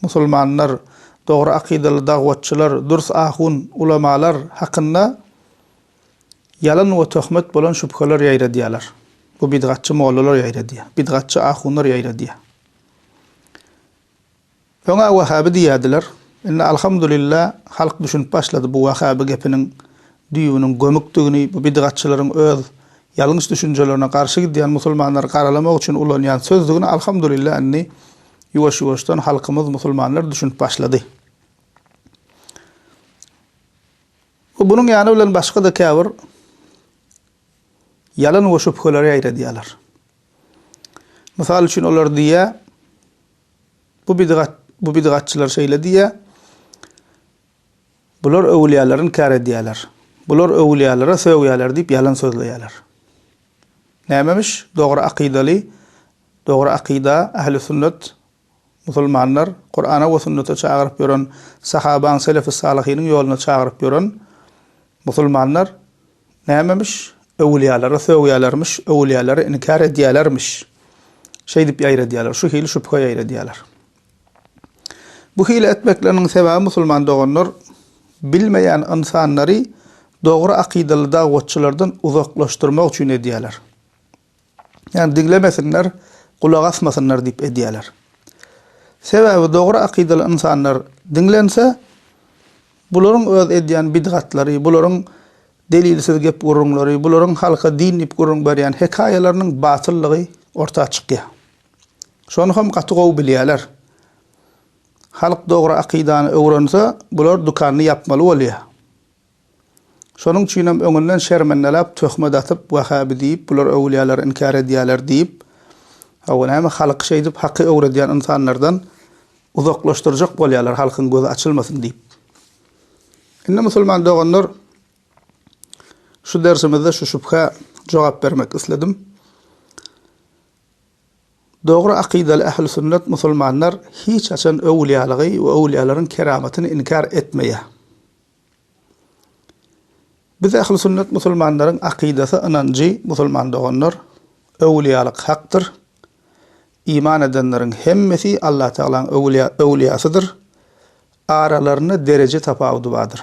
Musulmanlar, dogry akydaly dagwatçylar, dürs ahun, ulamalar hakynda ýalan we töhmet bolan şübheler ýaýradýarlar. Bu bidgatçy mollalar ýaýradýar. Bidgatçy ahunlar ýaýradýar. Öňä wahhabi diýýärdiler. Indi alhamdulillah halk düşünip başlady bu wahhabi gepiniň düýbüniň gömükdigini, bu bidgatçylaryň öz ýalňyş düşünjelerine garşy gidýän musulmanlary garalamak üçin ulanýan sözdigini alhamdulillah indi ýuwaş-ýuwaşdan halkymyz musulmanlar düşünip başlady. We bunuň ýany bilen başga-da käbir ýalan we şübheleri ýaýradýarlar. Mysal üçin olar diýýär, bu bidgat, bu bidgatçylar şeýle diýýär, bular öwlüýäleri inkär edýärler, bular öwlüýälere sögýärler diýip ýalan sözleýärler. Nämemiş dogry akydaly? Dogry akyda, ähli sünnet, musulmanlar, Kurana we sünnete çagyryp ýören, sahabaň, selefi salyhynyň ýoluna çagyryp ýören musulmanlar nämemiş? Öwülýalary sögýälermiş, öwülýalary inkär edýälermiş. Şeýdip ýaýradýalar, şu hili şübhe ýaýradýalar. Bu hili etmekleriniň sebäbi musulman doganlar bilmeýän ynsanlary dogry akydaly dagwatçylardan uzaklaşdyrmak üçin edýärler. Ýagny diňlemesinler, gulak asmasynlar diýip edýärler. Sebäbi dogry akydaly ynsanlar diňlense, bularyň öz edýän bidgatlary, bularyň delilsiz gep-gürrüňleri, bularyň halka din diýip gürrüň berýän hekaýalarynyň batyllygy orta çykýar. Şony hem gaty gowy bilýärler. Halk dogry akydany öwrense, bular dükanyny ýapmaly bolýa. Şonuň üçinem öňünden şermendeläp, töhmet atyp, wahhabi diýip, bular öwülýäleri inkär edýäler diýip, hawa, näme, halky şeýdip haky öwredýän ynsanlardan uzaklaşdyrjak bolýalar, halkyň gözi açylmasyn diýip. Indi musulman doganlar, şu dersimizde şu şübhä jogap bermek isledim. Dogry akydaly ählüsünnet musulmanlar hiç haçan öwlýalygy we öwlýalaryň keramatyny inkär etmeýär. Biz ählüsünnet musulmanlaryň akydasy ynanjy musulman doganlar, öwlýalyk hakdyr, iman edenleriň hemmesi Allatagalaň öwlýasydyr, aralarynda dereje tapawudy bardyr.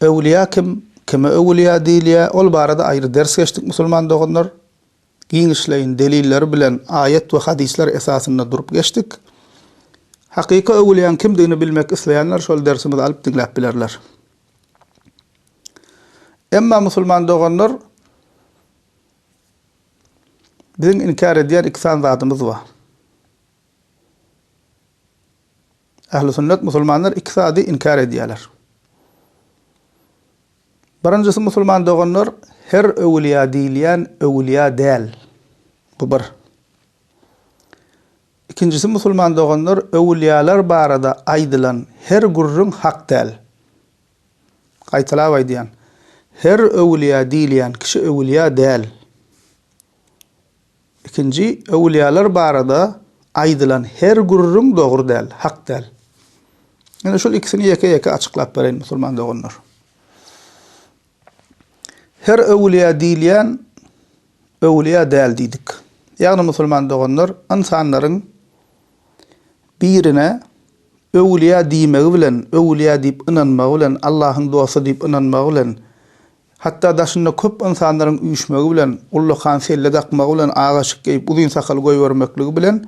Öwülýa kim? Kime öwülýa diýilýä? Ol barada aýry ders geçdik musulman doganlar. Giňişleýin delilleri bilen aýat we hadyslar esasynda durup geçdik. Hakyky öwülýäň kimdigini bilmek isleýänler şol dersimizi alyp diňläp bilerler. Emma musulman doganlar biziň inkär edýän iki sany zadymyz bar. Ähli sünnet musulmanlar iki zady inkär edýärler. Birinjisi musulman doganlar her öwülýa diýilýän öwülýa däl. Bu bir. Ikinjisi musulman doganlar öwülýalar barada aýdylan her gürrüň hak däl. Gaýtalap aýdýan, her öwülýa diýilýän kişi öwülýa däl. Ikinji, öwülýäler barada aýdylan her gürrüň dogry däl, hak däl. Ine, şol ikisini ýeke-ýeke açyklap bereýin, musulman doganlar. Her öwülýä diýilýän öwülýä däl diýdik. Ýagny, musulman doganlar, ynsanlaryň birine öwülýä diýmegi bilen, öwülýä diýip ynanmagy bilen, Allahyň dosty diýip ynanmagy bilen Hatda daşynda köp ynsanlaryň üýşmegi bilen, ullakan selle dakmagy bilen, ak eşik geýip, uzyn sakal goýbermekligi bilen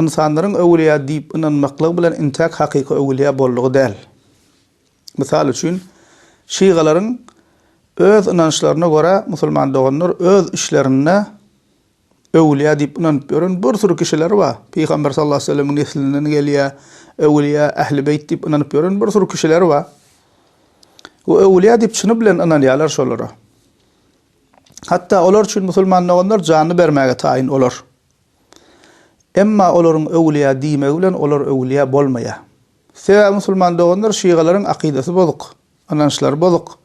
ynsanlaryň öwülýä diýip ynanmaklygy bilen intäk hakyky öwülýä boldugy däl. Mysal üçin, şygalaryň öz ynançlaryna görä musulman doganlar öz işlerinde, Öwlüýä diýip ynanyp ýören bir süri kişiler bar. Pygamber sallallahu aleýhi we sellemiň neslinden gelýär. Öwlüýä, ähli beýt diýip ynanyp ýören bir süri kişiler bar. We öwlüýä diýip çyny bilen ynanýarlar şolara. Hatda olar üçin musulman doganlar janyny bermäge taýyn olar. Emma olaryň öwlüýä diýmegi bilen olar öwlüýä bolmaýar. Sebäbi musulman doganlar şygalaryň akydasy bozuk. Ynançlary bozuk.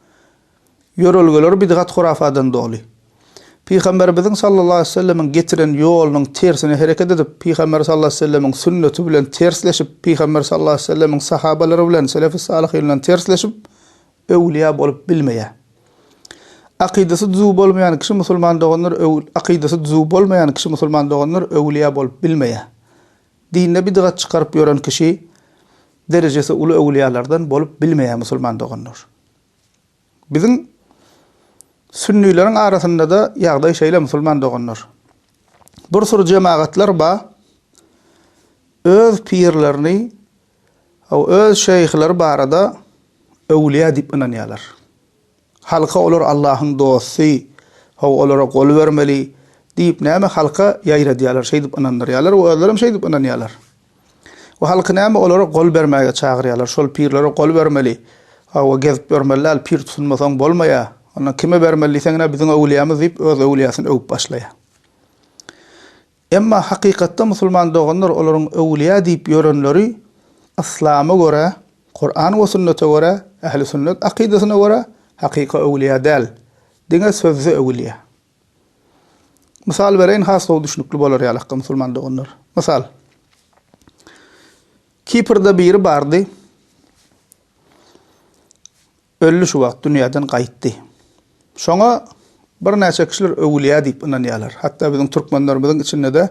Ýörelgeleri bidgat-hurafadan doly. Pygamberimiziň sallallahu aleýhi we sellemiň getiren ýolunyň tersine hereket edip, Pygamber sallallahu aleýhi we sellemiň sünneti bilen tersleşip, Pygamber sallallahu aleýhi we sellemiň sahabalary bilen selefi salyhyndan tersleşip, öwlüýä bolup bilmeýär. Akydasy düzüw bolmaýan kişi musulman doganlar akydasy düzüw bolmaýan kişi musulman doganlar öwlüýä bolup bilmeýär. Dinde bidgat çykaryp ýören kişi derejesi uly öwülýalardan bolup bilmeýär musulman doganlar. Biziň sünnileriň arasyndada ýagdaý şeýle musulman doganlar. Bir sur jemagatlar ba öz pirlerini o öz şeýhleri barada öwülýä diýip ynanýalar. Halka olar Allahyň dosty, how olara gol bermeli diýip näme halka ýaýradýarlar, şeýdip ynandyrýarlar we özlerem şeýdip ynanýarlar. We halky näme olara gol bermäge çagyrýarlar, şol pirlere gol bermeli, how gezip ýörmeli däl, pir tutunmasaň bolmaýa, onda kime bermeli diýseň ine biziň öwlýämiz diýip öz öwlýäsini öwüp başlaýa. Emma hakykatda musulman doganlar olaryň öwlüýä diýip ýörenleri yslama görä, Kuran we sünnete görä, ähli sünnet akydasyna görä hakyky öwlüýä däl, diňe sözde öwlüýä. Mysal bereýin has gowy düşnükli bolar ýaly hakda musulman doganlar. Mysal. Kiprde biri bardy. Ölli şu wagt dünýäden gaýtdy. Şoňa birnäçe kişiler öwülýä diýip ynanýarlar. Hatda biziň türkmenlerimiziň içinde-de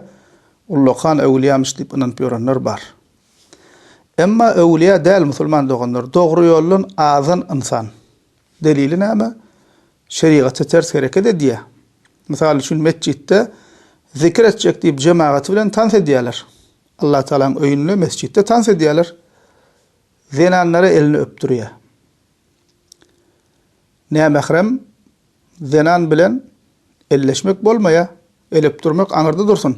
ullakan öwülýämiş diýip ynanyp ýörenler bar. Emma öwülýä däl musulman doganlar, dogry ýoldan azan ynsan. Delili näme? Şerigata ters hereket edýä. Mysal üçin metjitde zikir etjek diýip jemagaty bilen tans edýäler. Allatagalaň öýünde, mesjitde tans edýäler. Zenanlara elini öpdürýär. Nämährem zenan bilen elleşmek bolmaýar, el öpdürmek aňyrda dursun.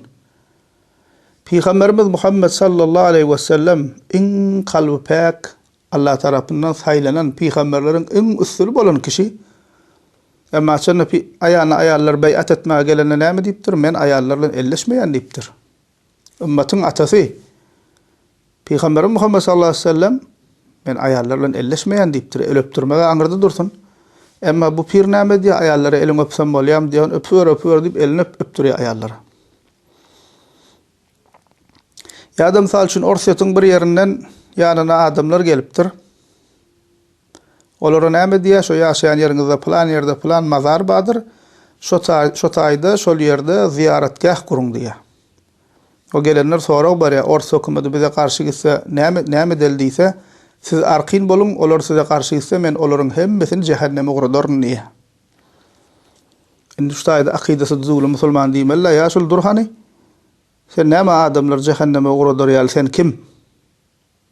Pygamberimiz Muhammet sallallahu aleýhi we sellem iň kalby päk, Allah tarapyndan saýlanan pygamberleriň iň üstüni bolan kişi. Emma şonda aýana aýallar beýat etmäge gelende näme diýipdir? Men aýallar bilen elleşmeýän diýipdir. Ymmatyň atasy, Pygamberimiz Muhammet sallallahu aleýhi we sellem, Men aýallar bilen elleşmeýän diýipdir, el öpdürmegi aňyrda dursun. Emma bu pir näme edýär, aýallara eliňi öpsem bolýarmy diýýär, ony öpüber, öpüber diýip, elini öp, öpdürýär aýallara. Ýa-da, mysal üçin, Orsýetiň bir ýerinden ýanyna adamlar gelipdir. Olara näme diýýär, şo ýaşaýan ýeriňizde pylan ýerde pylan mazar bardyr, şo taý, şo taýda, şol ýerde zyýaratgäh guruň diýýär. O gelenler sorag berýär, ors hökümeti bize garşy gitse, näme, näme edeli diýse, siz arkin boluň, olar size garşy gitse, men olaryň hemmesini jähenneme ugradaryn diýýär. Indi şu taýda akydasy düzüwli musulman diýmeli-le, ýa şul dur hany, sen näme adamlary jähenneme ugradar ýaly, sen kim?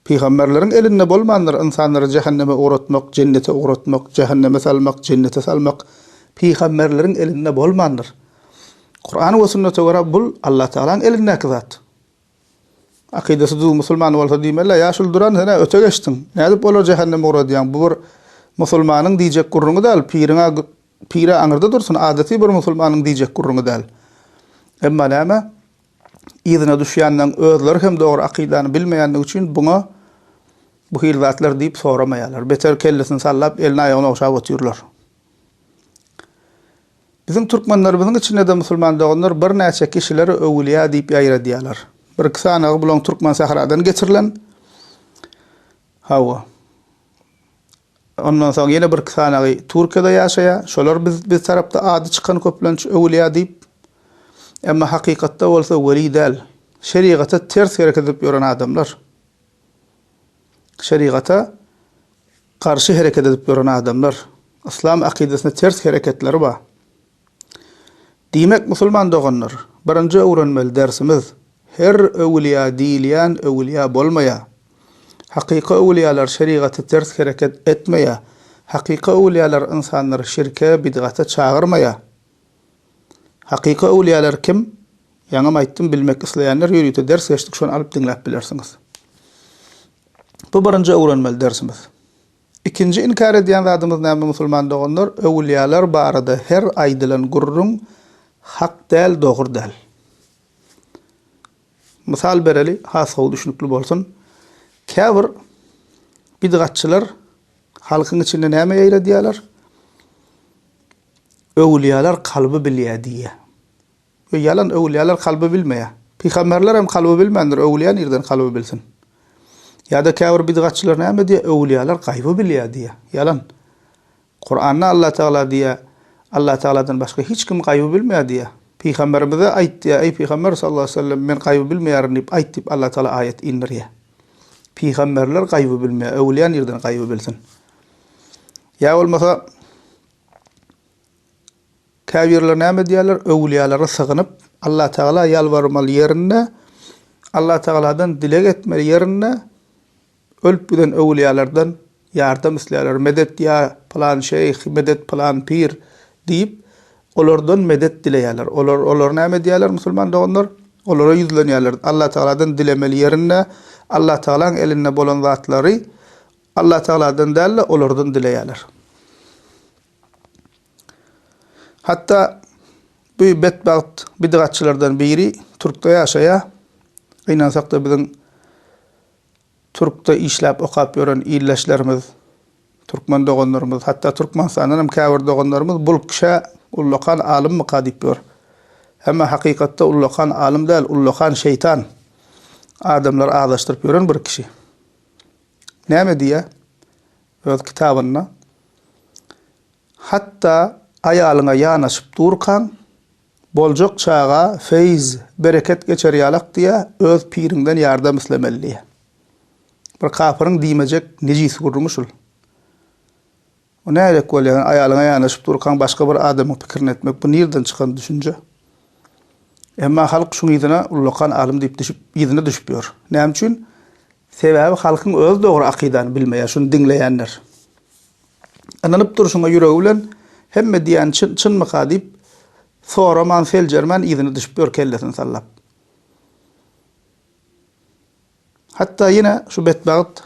Pygamberleriň elinde bolmandyr ynsanlary jähenneme ugratmak, jennete ugratmak, jähenneme salmak, jennete salmak, pygamberleriň elinde bolmandyr. Kuran we sünnete görä bul Allatagalaň elindäki zat. Akydasy düz musulman bolsa diýmelä, ýa şul duran senä öte geçdiň, nädip olary jähenneme ugradýaň, bu bir musulmanyň diýjek gürrüňi däl, piriňä pire aňyrda dursun, adaty bir musulmanyň diýjek gürrüňi däl. Emma näme? yzyna düşýänleň özleri hem dogry akydany bilmeýändigi üçin buňa bu hili zatlar diýip soramaýarlar. Beter kellesini sallap, elini-aýagyny ogşap otyrlar. Biziň türkmenlerimiziň içinde-de musulman doganlar birnäçe kişileri öwülýä diýip ýaýradýarlar. Bir-iki sanagy bulaň türkmen sähradan getirilen. Hawa. Ondan soň ýene birki sanagy Türkiýede ýaşaýar. Şolar biz biz tarapda ady çykan köplenç öwülýä diýip. Emma hakykatda bolsa weli däl. Şerigata ters hereket edip ýören adamlar. Şerigata garşy hereket edip ýören adamlar. Yslam akydasyna ters hereketleri bar. Diýmek, musulman doganlar, birinji öwrenmeli dersimiz, her öwülýa diýilýän öwülýa bolmaýar. Hakyky öwülýalar şerigaty ters hereket etmeýär. Hakyky öwülýalar ynsanlary şirke, bidgata çagyrmaýar. Hakyky öwülýalar kim? Ýaňam aýtdym, bilmek isleýänler ýörite ders geçdik, şony alyp diňläp bilersiňiz. Bu birinji öwrenmeli dersimiz. Ikinji inkär edýän zadymyz näme musulman doganlar, öwülýäler barada her aýdylan gürrüň hak däl dogry däl. Mysal bereli has gowy düşünikli bolsun. Käbir bidgatçylar halkyň içinde näme ýaýradýalar, öwülýäler kalby bilýä diýýä. We ýalan öwülýäler kalby bilmeýär. Pygamberler hem kalby bilmändir, öwülýä nirden kalby bilsin? Ýa-da käbir bidgatçylar näme diýýär, öwülýäler gaýby bilýär diýýär. Ýalan. Kuranda Allah Tagala diýýär, Allah Tagaladan başga hiç kim gaýby bilmeýär diýýär. Pygamberimize aýt diýýär, eý pygamber sallallahu aleýhi we sellem men gaýby bilmeýärin diýip aýt diýip Allah Tagala aýat indirýär. Pygamberler gaýby bilmeýär, öwülýä nirden gaýby bilsin? Ýa bolmasa, Käbirleri näme edýärler? Öwülýälere sygynyp, Allatagala ýalbarmaly ýerinde, Allatagaladan dileg etmeli ýerinde, ölüp giden öwülýälerden ýardam isleýärler. Medet ýa pylan şeýh, medet pylan pir diýip, olardan medet dileýärler. Olar olar näme edýärler, musulman doganlar? Olara ýüzlenýärler. Allatagaladan dilemeli ýerinde, Allatagalaň elinde bolan zatlary Allatagaladan däl-de, olardan dileýärler. Hatda bu betbagt bidgatçylardan biri Türkde ýaşaýar. Gynansakda biziň Türkde işläp okap ýören ildeşlerimiz, türkmen doganlarymyz, hatda Türkmenistandan hem käbir doganlarymyz bul kişä ullakan alymmyka diýip ýör. Emma hakykatda ullakan alym däl, ullakan şeýtan. Adamlary azaşdyryp ýören bir kişi. Näme diýýär öz kitabynda? Hatda aýalyňa ýanaşyp durkaň, Boljak çaga feýz, bereket geçer ýalak diýä, öz piriňden ýardam islemeli diýä. Bir kapyryň diýmejek nejis gürrüňi şul. Bu nädek bolýar? Aýalyňa ýanaşyp durkaň başga bir adamyň pikirini etmek, bu nirden çykan düşünje? Emma halk şuň yzyna ullakan alym diýip düşüp, yzyna düşüp ýör. Näme üçin? Sebäbi halkyň özi dogry akydany bilmeýär, şuny diňleýänler. Ynanyp durşuňa ýüregi bilen, hemme diýýäni çyn, çynmyka diýip, soraman, seljermän yzyna düşüp ýör kellesini sallap. Hatda ýene şu betbagt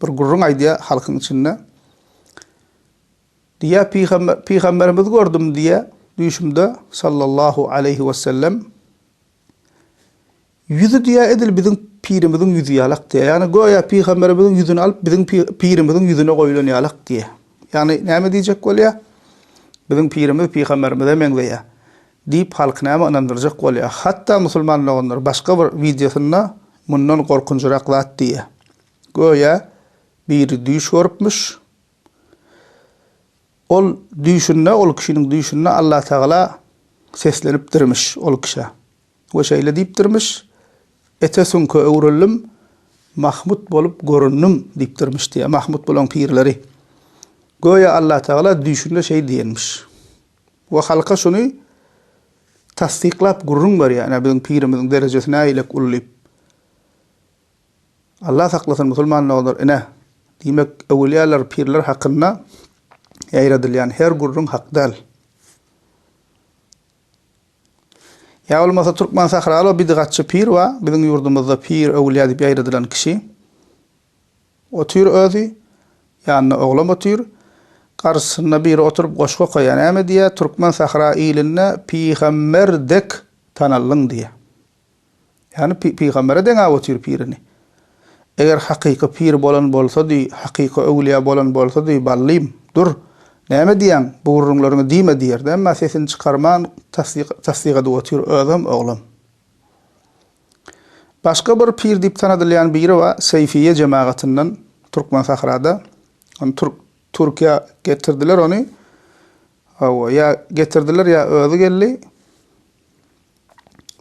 bir gürrüň aýdýar halkyň içinde. Diýýär, pygamber, pygamberimizi gördüm diýýär düýşümde sallallahu aleýhi wesellem. Ýüzi diýýär, edil biziň pirimiziň ýüzi ýalak diýýär. Ýagny göýä pygamberimiziň ýüzüni alyp biziň pirimiziň ýüzüne goýlan ýalak diýýär. Ýagny näme diýjek bolýar? Biziň pirimiz pygamberimize meňzeýär diýip halky näme ynandyrjak bolýar. Hatda musulman doganlar başga bir wideosynda mundan gorkunjyrak zat diýýär. Göýä biri düýş görüpmiş. Ol düýşünde, ol kişiniň düýşünde Allatagala seslenipdirmiş ol kişä. We şeýle diýipdirmiş, Ete süňke öwrüldim, Mahmut bolup göründim diýipdirmiş diýýär Mahmut bulaň pirleri. Göýä Allatagala düýşünde şeý diýenmiş. We halka şuny tassyklap gürrüň berýär, ine biziň pirimiziň derejesi nägilek uly diýip. Allah saklasyn musulman doganlar, ine, diýmek öwülýäler, pirler hakynda ýaýradylýan her gürrüň hak däl. Ýa bolmasa türkmen sahraly o bidigatçy pir wa biziň ýurdumyzda pir öwülýä diýip ýaýradylan kişi otyr özi ýanynda oglam otyr garsysynda biri oturyp goşgy okaýa näme diýä türkmen sahra ilinde pigamber dek tanallyň diýä. Ýagny pygambere deňäp otyr pirini. Eger hakyky pir bolan bolsady, hakyky öwlüýä bolan bolsady, Ballym, dur, näme diýýäň, bu gürrüňleriňi diýme diýerdi. Emma sesini çykarman tassyk edip otyr, özem oglam. Başga bir pir diýip tanadylýan biri bar, Seýfiýe jemagatyndan, Türkmensahrada. Ony Türkiýä getirdiler ony. Hawa, ýa getirdiler, ýa özi geldi.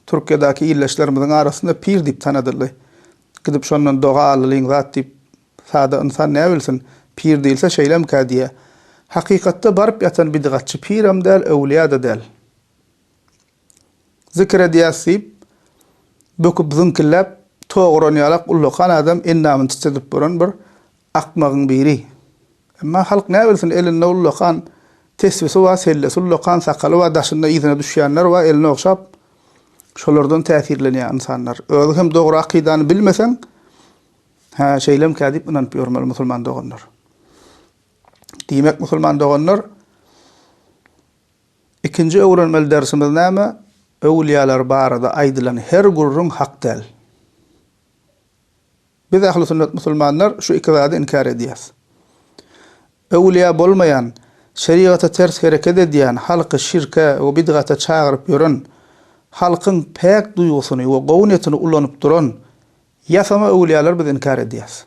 Türkiýedäki ildeşlerimiziň arasynda pir diýip tanadyldy. Gidip şondan doga allylyň zat diýip, sada ynsan näbilsin, pir diýilse şeýlemikä diýýär. Hakykatda baryp ýatan bidigatçy pirem däl, öwlüýä-de däl. Zikir edýäs diýip, böküp zyňkilläp, toguran ýalak ullakan adam endamyny titredip bolan bir Akmagyň biri. Emma halk näbilsin, elinde ullakan tesbisi bar, sellesi ullakan, sakaly bar, daşynda yzyna düşýänler bar, elini ogşap, şolardan täsirlenýär ynsanlar. Özi hem dogry akydany bilmeseň, Hä, şeýlemkä diýip ynanyp ýörmeli musulman doganlar. Diýmek, musulman doganlar, ikinji öwrenmeli dersimiz näme? Öwülýalar barada aýdylan her gürrüň hak däl. Biz ähli sünnet musulmanlar şu iki zady inkär edýäs. Öwülýa bolmaýan, şerigata ters hereket edýän, halky şirke we bidgata çagyryp ýören, halkyň päk duýgusyny we gowy netini ulanyp duran ýasama öwülýalary biz inkär edýäs.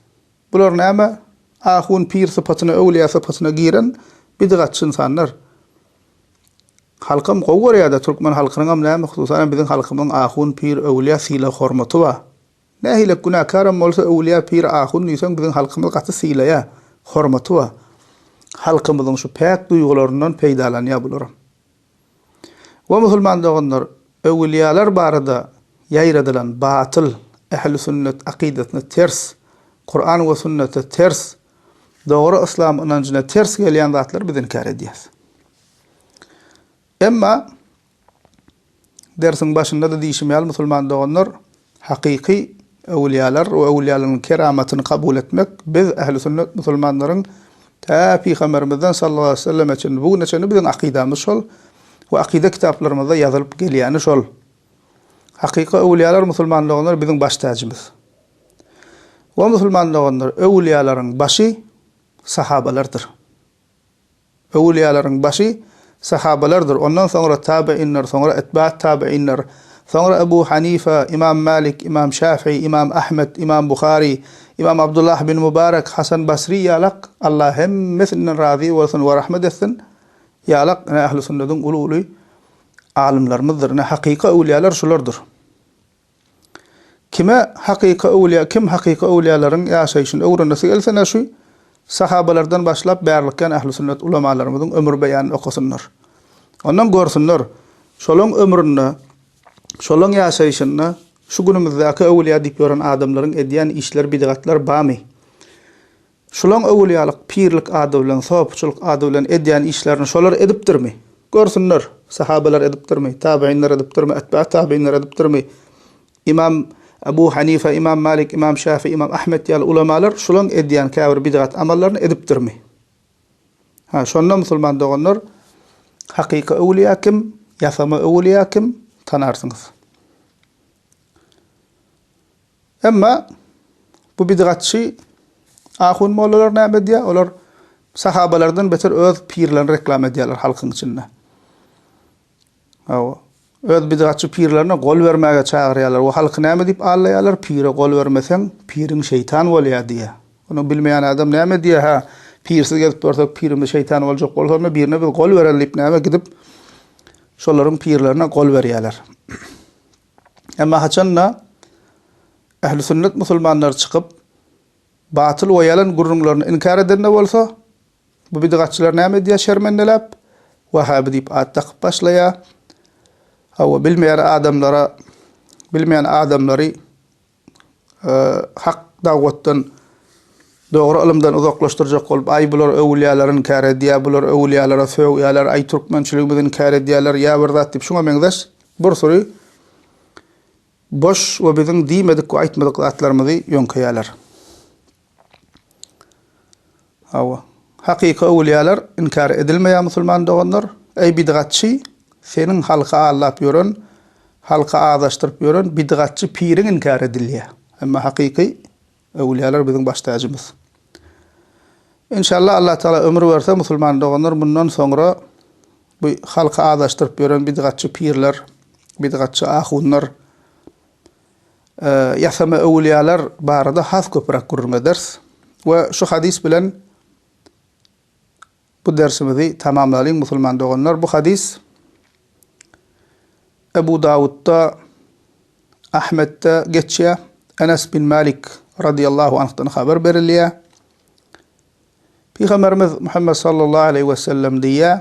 Bular näme? Ahun, pir sypatyna, öwülýa sypatyna giren bidgatçy ynsanlar. Halkam gowy görýä-dä, türkmen halkynyňam näme, hususanam biziň halkymyň ahun, pir, öwülýa sylag-hormaty bar. Nähilek günäkäram bolsa öwülýä pir ahun diýseň biziň halkymyz gaty sylaýa, hormaty bar. Halkymyzyň şu päk duýgularyndan peýdalanýa bularam. We musulman doganlar öwülýalar barada ýaýradylan batyl, ählisünnet akydasyna ters, Kuran we sünnete ters, dogry yslam ynanjyna ters gelýän zatlary biz inkär edýäs. Emma Dersiň başynda-da diýşim ýaly, musulman doganlar, hakyky öwülýalar we öwülýalaryň keramatyny kabul etmek biz, ähli sünnet musulmanlaryň tä pygamberimizden sallallahu aleýhi weselleme çenli bu güne çenli biziň akydamyz şol we akyda kitaplarymyzda ýazylyp gelýäni şol. Hakyky öwülýalar, musulman doganlar, biziň baş täjimiz. O musulman doganlar, öwülýalaryň başy sahabalardyr. Öwülýalaryň başy sahabalardyr, ondan soňra tabeinler, soňra etbaat tabeinler, soňra Ebu Hanife, Imam Malik, Imam Şafii, Imam Ahmet, Imam Buhari, Imam Abdullah bin Mubarek, Hasan Basri ýalak, Allah hemmesinden razy bolsun we rahmet etsin, ýalak ine ähli sünnediň uly-uly alymlarymyzdyr, ine hakyky öwülýalar şulardyr. Kime hakyky öwlýa kim hakyky öwlýalaryň ýaşaýşyny öwrenesi gelse ne şu sahabalardan başlap bärlikýan ähli sünnet ulamalarymyzyň ömür beýanyny okasynlar. Ondan görsünler şolaň ömründe şolaň ýaşaýşynda şu günümizdäki öwlýa diýip ýören adamlaryň edýän işler bidgatlar bamy. Şulaň öwülýalyk pirlik ady bilen, sopyçylyk ady bilen edýän işlerini şolar edipdirmi? Görsünler, sahabalar edipdirmi, tabynlar edipdirmi, etbä tabynlar edipdirmi? Ymam Ebu Hanife, Ymam Malik, Ymam Şäfi, Ymam Ahmet ýaly ulamalar şulaň edýän käbir bidgat amallaryny edipdirmi? Ha, şonda musulman doganlar, hakyky öwülýä kim, ýasama öwülýä kim, tanarsyňyz. Emma bu bidgatçy ahun mollalar näme edýär? Olar sahabalardan beter öz pirlerini reklama edýärler halkyň içinde. Hawa, öz bidgatçy pirlerine gol bermäge çagyrýarlar we halky näme diýip allaýarlar? Pire gol bermeseň, piriň şeýtan bolýar diýýär. Ony bilmeýän adam näme edýär? Hä, pirsiz gezip dursek, pirimiz şeýtan boljak bolsa, onda birine biz gol bereli diýip näme gidip, şolaryň pirlerine gol berýärler. Emma haçan-da, ähli sünnet musulmanlary çykyp, batyl we ýalan gürrüňlerini inkär edende bolsa, bu bidgatçylar näme edýär şermendeläp, wähäbi diýip at dakyp başlaýar. Hawa, bilmeýän adamlara, bilmeýän adamlary Hak dawwatdan, dogry ylymdan uzaklaşdyrjak bolup, aý bular öwülýäler inkär edýär, bular öwülýälere sögýäler, aý türkmençiligimizi inkär edýäler, ýa bir zat diýip şuňa meňzeş bir süri boş we biziň diýmedik we aýtmadyk zatlarymyzy ýöňkeýäler. Hawa, hakyky öwülýäler inkär edilmeýär musulman doganlar. Eý bidgatçy, seniň halky aldap ýören, halky azaşdyryp ýören bidgatçy piriň inkär edilýär. Emma hakyky öwülýäler biziň baş täjimiz. Enşalla Allah Tagala ömür berse musulman doganlar mundan soňra bu halky azaşdyryp ýören bidgatçy pirler, bidgatçy ahunlar, ýasama öwülýäler barada has köpüräk gürrüň ederis we şu hadys bilen bu dersimizi tamamlalyň musulman doganlar bu hadys Ebu Dawudda Ahmetde geçýär Enes bin Malik radiyallahu anhdan haber berilýär Pygamberimiz Muhammed sallallahu aleyhi ve sellem diýýär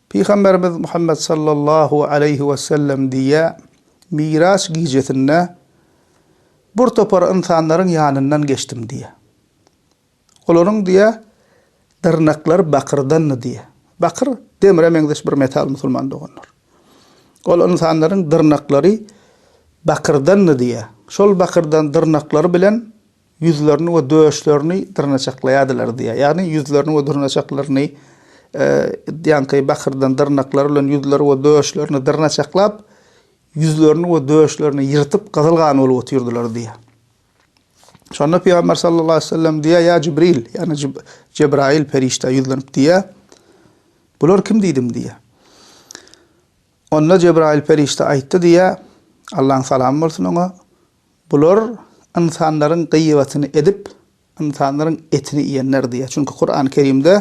Pygamberimiz Muhammet sallallahu aleýhi wesellem diýýä, Miraç gijesinde bir topar ynsanlaryň ýanyndan geçdim diýýä. Olaryň diýýä, dyrnaklary bakyrdandy diýýä. Bakyr demre meňzeş bir metal musulman doganlar. Ol ynsanlaryň dyrnaklary bakyrdandy diýýä. Şol bakyrdan dyrnaklary bilen ýüzlerini we döşlerini dyrnaçaklaýardylar diýýär. Ýagny ýüzlerini we dyrnaçaklaryny ýaňky bakyrdan dyrnaklary bilen ýüzleri we döşlerini dyrnaçaklap, ýüzlerini we döşlerini ýyrtyp gyzyl gan bolup otyrdylar diýýär. Şonda Pygamber sallallahu aleyhi ve sellem diýýär, ýa Jibril, ýagny Jebrail perişde ýüzlenip diýýär. Bular kim diýdim diýýär. Onda Jebrail perişde aýtdy diýýär. Allaň salamy bolsun oňa. Bular ynsanlaryň gyýbatyny edip, ynsanlaryň etini iýenler diýýär. Çünki Kurany Kerimde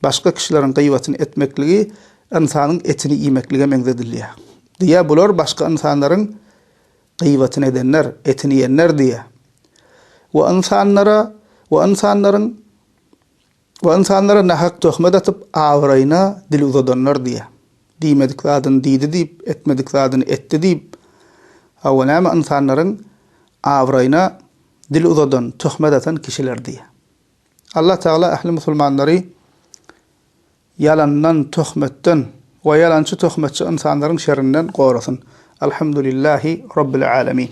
başga kişileriň gyýbatyny etmekligi ynsanyň etini iýmeklige meňzedilýär. Diýýär, Bular başga ynsanlaryň gyýbatyny edenler, etini iýenler diýýär. We ynsanlara we ynsanlaryň Bu ynsanlara nähak töhmet atyp, abraýyna dil uzadanlar diýýär. Diýmedik zadyny diýdi diýip, etmedik zadyny etdi diýip, hawa, näme ynsanlaryň abraýyna dil uzadan, töhmet atan kişiler diýýär. Allah Tagala ähli musulmanlary ýalandan, töhmetden we ýalançy, töhmetçi ynsanlaryň şerrinden gorasyn. Alhamdulillahi Rabbil Alemin.